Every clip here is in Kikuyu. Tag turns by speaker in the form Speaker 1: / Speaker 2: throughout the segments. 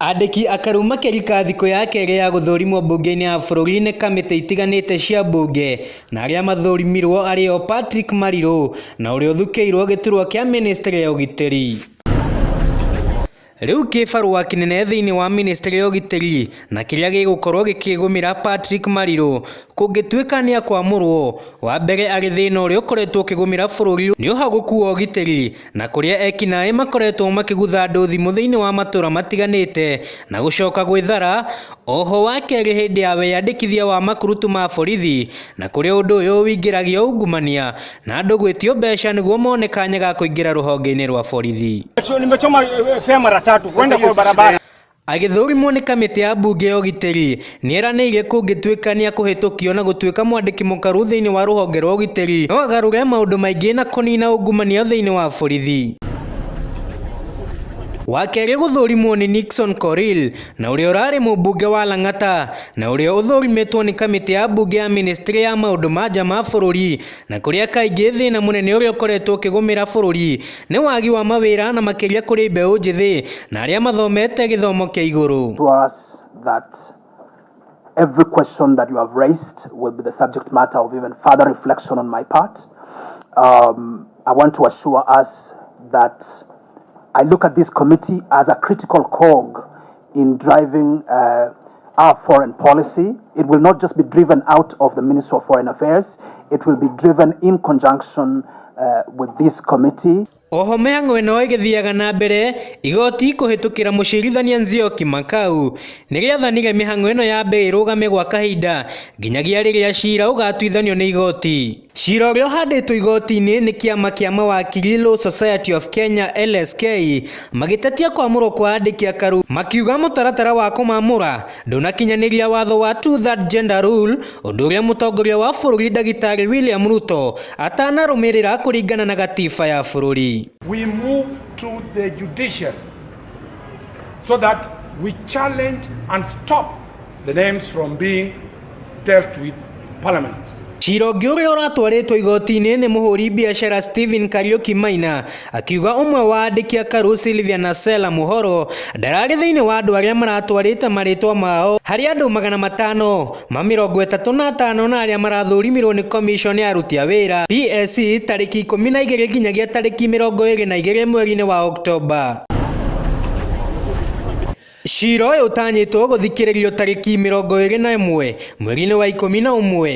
Speaker 1: Andĩki akaru makĩrika thikũ ya kerĩ ya gũthũrimwo mbunge-inĩ ya bũrũri nĩ kamĩtĩ itiganĩte cia mbunge na arĩa mathũrimirwo arĩ o Patrick Marirũ na ũrĩa ũthukĩirwo gĩturwa kĩa mĩnĩstrĩ ya ũgitĩri. Rĩu kĩbarũa kĩnene thĩinĩ wa mĩnĩstrĩ ya ũgitĩri na kĩrĩa gĩgũkorwo gĩkĩgũmĩra Patrick Marirũ kũngĩtuĩka nĩakwamũrwo, wa mbere arĩ thĩna ũrĩa ũkoretwo ũkĩgũmĩra bũrũri nĩ ũhagũku wa ũgitĩri na kũrĩa ekinaĩ makoretwo makĩgutha andũ thimũ thĩinĩ wa matũra matiganĩte na gũcoka gwĩthara, oho wakerĩ hĩndĩ ya wĩyandĩkithia wa makurutu ma borithi na kũrĩa ũndũ ũyũ ũingĩragia ungumania na andũ gwĩtio mbeca nĩguo mone kanya ga kũingĩra rũhonge-inĩ rwa borithi. Agĩthũrimwo nĩ kamĩtĩ ya mbunge ya ũgitĩri, nĩeranĩire kũngĩtuĩka nĩakũhĩtũkio na gũtuĩka mwandĩki mũkaru thĩinĩ wa rũhonge rwa ũgitĩri, no agarũre maũndũ maingĩ na kũnina ungumania thĩinĩ wa borithi. Wa kerĩ gũthũrimwo nĩ Nixon Korir na ũrĩa ũrarĩ mũmbunge wa Lang'ata na ũrĩa ũthũrimĩtwo nĩ kamĩtĩ ya mbunge ya mĩnĩstrĩ ya maũndũ ma nja ma bũrũri na kũrĩa kaingĩ thĩna mũnene ũrĩa ũkoretwo ũkĩgũmĩra bũrũri nĩ wagi wa mawĩra na makĩria kũrĩ mbeũ njĩthĩ na arĩa mathomete gĩthomo kĩa igũrũ. to us that
Speaker 2: every question that you have raised will be the subject matter of even further reflection on my part. Um, I want to assure us that I look at this committee as a critical cog in driving uh, Our foreign policy, it will not just be driven out of the Ministry of Foreign Affairs, it will be driven in conjunction uh, with this committee. Oho mĩhang'o ĩno
Speaker 1: ĩgĩthiaga na mbere igoti kũhĩtũkĩra mũcirithania Nzioki Makau nĩ rĩathanire mĩhang'o ĩno yambe ĩrũgame gwa kahinda nginyagia rĩrĩa cira ũgatuithanio nĩ igoti. Cira ũrĩa ũhandĩtwo igoti-inĩ nĩ kĩama kĩa mawakiri Law Society of Kenya LSK magĩtetia kwamũrwo kwa andĩki a Karu makiuga mũtaratara wa kũmamũra ndũnakinyanĩria watho wa two third gender rule ũndũ ũrĩa mũtongoria wa bũrũri ndagĩtarĩ William Ruto atanarũmĩrĩra kũringana na gatiba ya bũrũri. we move
Speaker 3: to the judiciary so that we challenge and stop the names from being dealt with in parliament. Cira ũngĩ
Speaker 1: ũrĩa ũratwarĩtwo igoti-inĩ nĩ mũhũri biacara Stephen Kariuki Maina akiuga ũmwe wa andĩki a Karu Sylvia na Sela Muhoro ndararĩ thĩinĩ wa andũ arĩa maratwarĩte marĩtwa mao harĩ andũ magana matano ma mĩrongo ĩtatũ na atano na arĩa marathũrimirwo nĩ commission ya aruti a wĩra PSC e, tarĩki ikũmi na igĩrĩ nginyagia tarĩki mĩrongo ĩrĩ na igĩrĩ mweri-inĩ wa Oktoba. Cira ũyũ ũtanyĩtwo gũthikĩrĩrio tarĩki mĩrongo ĩrĩ na ĩmwe mweri-inĩ wa ikũmi na ũmwe.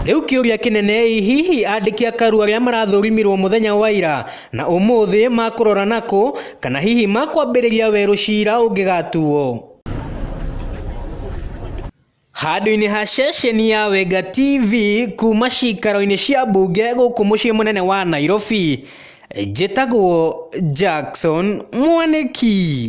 Speaker 1: Rĩu kĩũria kĩnene ĩ hihi andĩki a Karu arĩa marathũrimirwo mũthenya wa ira na ũmũthĩ makũrora nakũ kana hihi makwambĩrĩria werũ cira ũngĩgatuo? Handũ-inĩ ha ceceni ya Wenga TV kuma cikaro-inĩ cia mbunge gũkũ mũciĩ mũnene wa Nairobi, njĩtagwo Jackson Mwanĩki.